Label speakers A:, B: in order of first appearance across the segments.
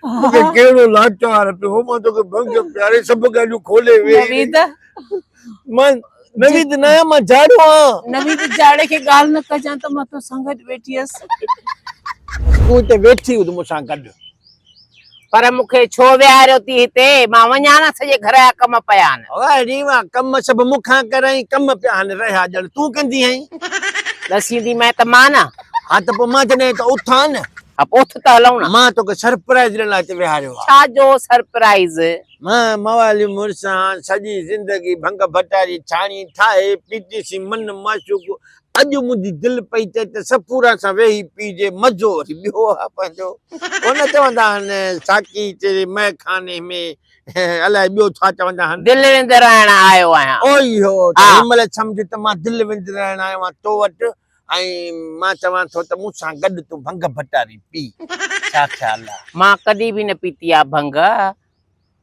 A: مون کي ڪهڙو لاچار پيو مان توکي ڀنگ پياري سڀ ڳالهيون کولي ويئي نويد
B: مان
A: نويد نه آهيان مان جاڙو آهيان نويد جاڙي
B: کي ڳالهه نه ڪجان ته مان توسان گڏ ويٺي هيس
A: تون هتي ويٺي هئي مون سان گڏ پر
B: مون کي ڇو ويهاريو ٿي هتي مان وڃان نه سڄي گهر جا ڪم پيا آهن واري واه ڪم
A: سڀ مون کان ڪرايئي ڪم پيا آهن رهيا ڄڻ تون ڪندي آهين ڏسيندي
B: مئي ته مان نه ها ته پوء مان جڏهن
A: هتان اٿان نه اپ اٿ ته هلون
B: ها. مان توکي سرپرائيز
A: ڏيڻ لاء هتي ويهاريو آهي. ڇا جو
B: سرپرائيز؟ مان
A: موالي مڙسان سڄي زندگي ڀنگ ڀٽا جي ڇاڻي ٺاهي پيتيسين من معشوق اڄ منهنجي دل پئي چئي ته سپوران سان ويهي پيئجي مزو وري ٻيو آهي پنهنجو ڪونه چوندا آهن ساقي تيري مئي خاني ۾ الائي ٻيو ڇا چوندا آهن. دل وندرائڻ
B: آيو آهيان. او اهو ته هن
A: مهل سمجهه ته مان دل وندرائڻ آيو آهيان تو وٽ ۽ مان چوان ٿو ته مون سان گڏ تون ڀنگ ڀٽاري پي. ڇا خيال آ؟ مان ڪڏهن به نه پيتي
B: آ ڀنگ.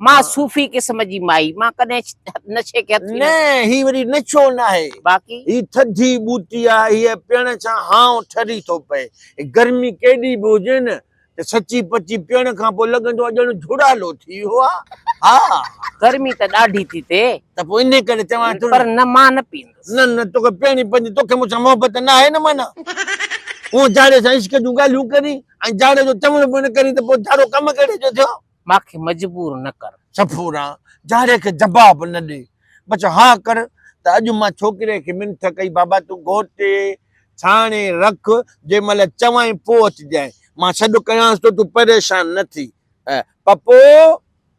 B: مان صوفي قسم جي مائي. مان ڪڏهن نشي کي هٿ ئي نه. نه هي وري
A: نشو ناهي. باقي؟ هي ٿڌي ٻوٽي آ. هيء پيئڻ سان هانء ٺري ٿو پئي. گرمي ڪيڏي به هجي نه ته سچي پچي پيئڻ کان پوء لڳندو آهي ڄڻ جهڙالو ٿي ويو آهي. ها. گرمي ته ڏاڍي
B: ٿي ٿئي. ته پوء انهي ڪري
A: چوان ٿو. پر نه مان نه پيئندس.
B: نه نه توکي پيئڻي
A: پوندي توکي مون سان محبت نه آهي نه معنيٰ هونء جاڙي سان عشق جون ڳالهيون ڪرين ۽ جاڙي جو چوڻ به نه ڪرين ته پوء جاڙو ڪم ڪهڙي جو ٿيو. مان کي مجبور
B: نه ڪر. صفورا،
A: جاڙي کي جباب نه ڏي، بس ها ڪر ته اڄ مان ڇوڪري کي منٿ ڪئي بابا تون گهوٽي، ڇاڻي، رک، جنهن مهل چوانء پوء اچجانء، مان سڏ ڪيانس ٿو، تون پريشان نه ٿي. پپو،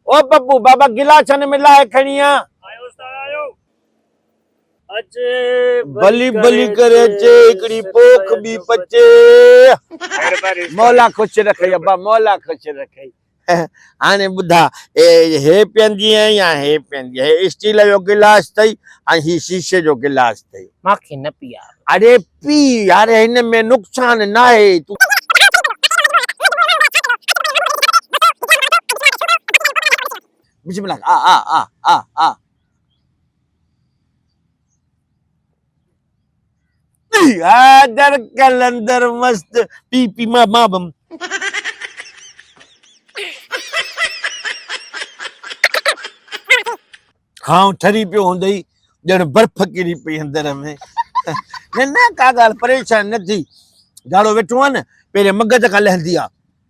A: او پپو، بابا گلاس ڇنه ۾ لاهي کڻي آ. آيو استاد آيو. بلي بلي ڪري اچي هڪڙي پوک ٻي پچي مولا خوش رکئي ابا مولا خوش رکئي هاڻي ٻڌا هي پيئندي ۽ يا هي پيئندي هي اسٽيل جو گلاس اٿئي ۽ هي شيشي جو گلاس اٿئي ماکي نه پيئار
B: اڙي پي
A: يار هن ۾ نقصان ناهي تون بسم الله آ آ آ آ آ حيدر قلندر مست پي پي ما ما بم کانو ٺري پيو هوندئي ڄڻ برف ڪري پئي اندر ۾ نه نه ڪا ڳالهه پريشان نه ٿي جاڙو ويٺو آهي نه پهرين مغز کان لهندي آ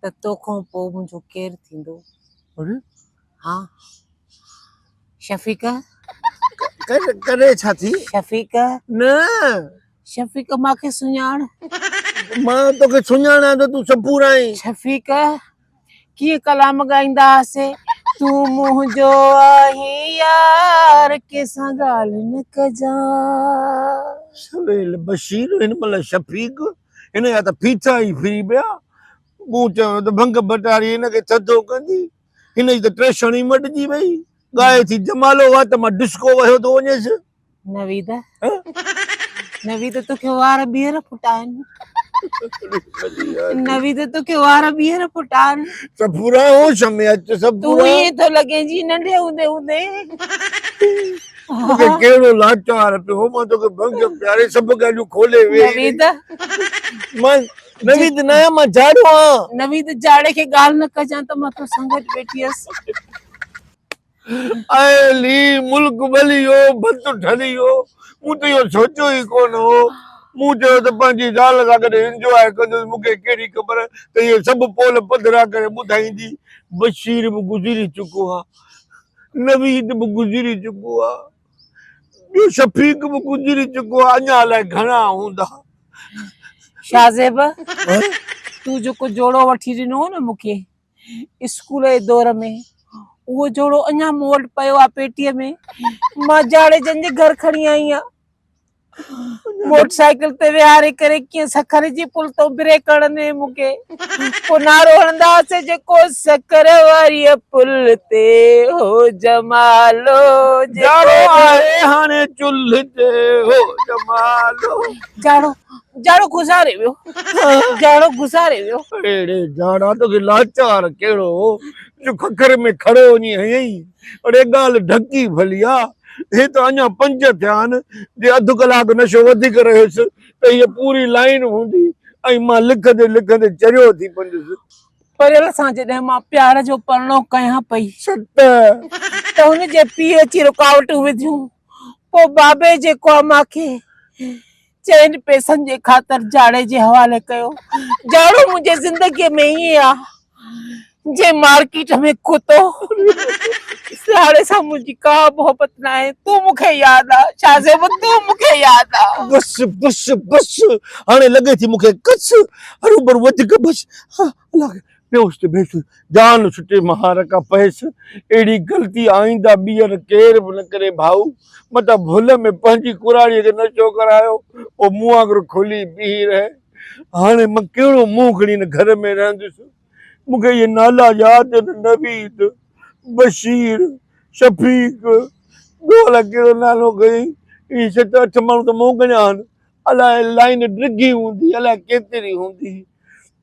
B: ته تو کان پوء منهنجو ڪير ٿيندو؟ اري ها شفيقه
A: ڪڏهن ڇا ٿي؟ شفيقه نه شفيقه
B: مان کي سڃاڻ. مان
A: تو کي سڃاڻان ته تون سپور آهين. شفيقه
B: ڪيئن ڪلام ڳائيندا هئاسي تون منهنجو آهين يار ڪنهن سان ڳالهه نه ڪجان. سويل بشير هن مهل
A: شفيق. هن جا ته ڦيٿا ئي ڦري پيا. مون چيو ته ڀنگ ڀٽاري هن کي ٿڌو ڪندي. هن جي ته ٽيشڻ ئي مٽجي وئي. ڳائي ٿي جمالو وات مان ڊسڪو وهيو ٿو وڃيس. نويد
B: نويد توکي وار ٻيهر ڦٽائن. نويد توکي وار ٻيهر ڦٽائن. صفورا هوش
A: ۾ اچ صفورا. تون ائين ٿو لڳين
B: جيئن ننڍي هوندي هوندي. توکي
A: ڪهڙو لاچار پيو مان توکي بخشيو پياري سڀ ڳالهيون کولي ويئي نويد
B: مان
A: نويد نه آهيان مان جاڙو آهيان نويد جاڙي کي
B: ڳالهه نه ڪجان ته مان تو سنگت ويٺي هيس اي
A: لي ملڪ ٻليو ڀت ڍليو مون ته اهو سوچيو ئي ڪونه هو مون چيو ته پنهنجي زال سان گڏ انجواء ڪندس مون کي ڪهڙي خبر ته اهي سڀ پول پڌرا ڪري ٻڌائيندي بشير به گذري چڪو آهي نويد به گذري چڪو آ ٻيو شفيق به گذري چڪو آ اڃا الائي گهڻا هوندا.
B: شاهه زيب تون جيڪو جوڙو وٺي ڏنو هو نه مون کي اسڪول جي دور ۾ اهو جوڙو اڃا مون وٽ پيو آ پيٽيء ۾ مان جاڙيجن جي گهر کڻي آئي آ موٽر سائيڪل تي ويهاري ڪري ڪيئن سکر جي پل تون بريڪ هڻندي مون کي پو نعرو هڻندا هئاسي جيڪو سکر واري پل تي هو جمالو جاڙو
A: آهي هاڻي چلهه تي هو جمالو جاڙو
B: جاڙو گذاري ويو جاڙو گذاري ويو اڙي جاڙا
A: توکي لاچار ڪهڙو هو جو ککر ۾ کڙو وڃي هنئين اڙي ڳالهه ڍڪي ڀلي آ. هي ته اڃا پنج ٿيا آهن. جي اڌ ڪلاڪ نشو وڌيڪ رهيس ته هيء پوري لائين هوندي ۽ مان لکندي لکندي چريو ٿي پوندس. پريل سان
B: جڏهن مان پيار جو پرڻو ڪيان پئي. ست.
A: ته
B: هن جي پيء اچي رڪاوٽون وڌيون. پوء بابي جيڪو اماکي چئن پئسن جي خاطر جاڙي جي حوالي ڪيو. جاڙو منهنجي زندگيء ۾ ائين آ جئين مارڪيٽ ۾ ڪتو. سياڙي سان منهنجي ڪا محبت ناهي. تون مون کي ياد آ شاهزيب تون مون کي ياد آ. بس بس
A: بس هاڻي لڳي ٿي مون کي ڪس هروڀرو وڌيڪ بس. الله کي پيوس ته ڀيس، جان ڇٽي مهار کان پهيس، اهڙي غلطي آئنده ٻيهر ڪير به نه ڪري ڀائو، متان ڀل ۾ پنهنجي ڪراڙيء کي نه چوڪر آيو، پوء مون وانگر کلي بيهي رهه. هاڻي مان ڪهڙو منهن کڻي هن گهر ۾ رهنديس؟ مون کي اهي نالا ياد آهن، نويد، بشير، شفيق، ٻيو الاء ڪهڙو نالو کڻين، اهي ست اٺ ماڻهو ته مون کڻيا آهن، الاء لائين ڊگهي هوندي، الاء ڪيتري هوندي.